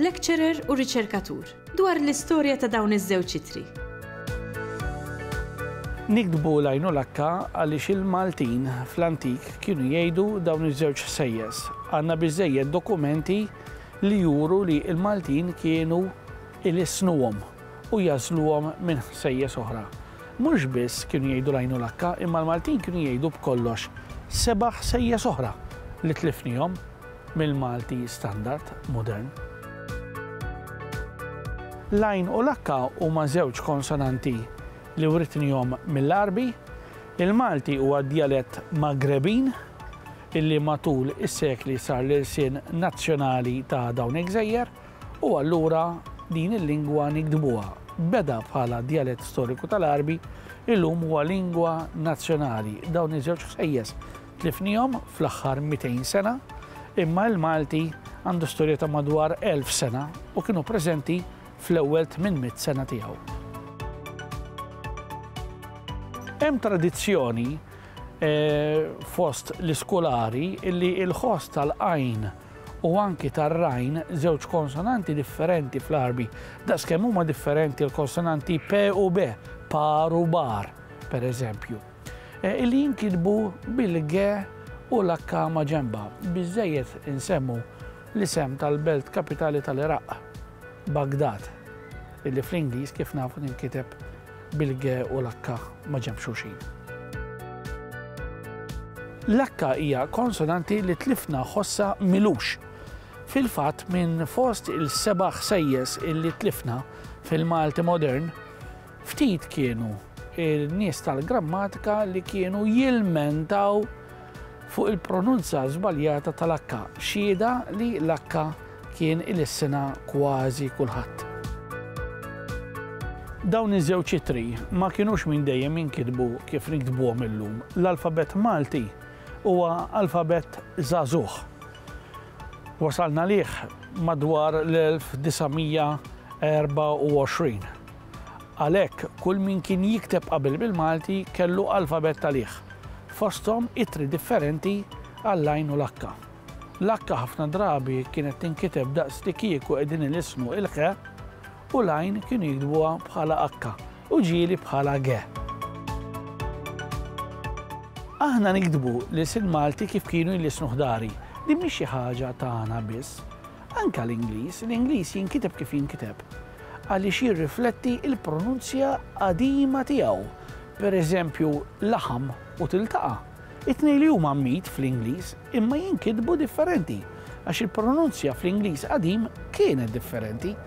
Lecturer u riċerkatur, dwar l-istorja ta' dawn iż-żewġ ittri. Niktbu l-għajn u l-akka għaliex il-Maltin fl-antik kienu jgħidu dawn iż-żewġ ħsejjes. Għandna biżżejjed dokumenti li juru li l-Maltin kienu ilissnuhom u jagħżluhom minn ħsejjes oħra. Mhux biss kienu jgħidu l-għajn u l-akka, imma l-Maltin kienu jgħidu b'kollox seba' ħsejjes oħra li tlifnihom. mill-Malti standard modern. L-għajn u l-H huma żewġ konsonanti li writnihom mill-Għarbi. Il-Malti huwa djalett Maghrebin illi matul is-sekli sar l-ilsien nazzjonali ta' dawn il-gżejjer u allura din il-lingwa niktbuha. Beda bħala djalett storiku tal-Għarbi, illum huwa lingwa nazzjonali. Dawn iż-żewġ ħsejjes Tlifnihom fl-aħħar 200 sena, imma il-Malti għandu storja ta' madwar 1000 sena u kienu preżenti fl-ewwel 800 sena tiegħu. Hemm tradizzjoni fost l-iskolari li l-ħoss tal-għajn u anki tar-rajn żewġ konsonanti differenti fl-Għarbi. Daqskemm huma differenti l-konsonanti p u b, par u bar, pereżempju. li jinkitbu bil-ge u l-akka maġenba, biżżejjed insemmu l-isem tal-belt kapitali tal-Iraq, Baghdad, li fl-Ingliż kif nafu tinkiteb bil-ge u l-akka maġenb xulxin. L-akka hija konsonanti li tlifna ħossha m'ilux. Fil-fatt minn fost il-seba' ħsejjes li tlifna fil-Malti modern, Ftit kienu n-nies tal-grammatika li kienu jilmentaw fuq il-pronunzja żbaljata tal-H, xhieda li l-H kien ilissinha kważi kulħadd. Dawn iż-żewġ ittri ma kinux minn dejjem jinkitbu kif niktbuhom illum. L-alfabett Malti huwa alfabett żagħżugħ. Wasalna għalih madwar l-1924. Għalhekk, kull min kien jikteb qabel bil-Malti kellu alfabett għalih, fosthom ittri differenti għall-għajn u l-akka. L-akka ħafna drabi kienet tinkiteb daqslikieku qegħdin ilisnu il-ħe u l-għajn kienu jiktbuha bħala akka u ġieli bħala ge. Aħna niktbu l-ilsien Malti kif kienu jlisnu ħdari. Din mhix xi ħaġa tagħna biss. Anke l-Ingliż, l-Ingliż jinkiteb kif jinkiteb għaliex jirrifletti l-pronunzja qadima tiegħu. Per eżempju, laħam u tiltaqa', it-tnejn li huma meat fl-Ingliż imma jinkitbu differenti għax il-pronunzja fl-Ingliż qadim kienet differenti.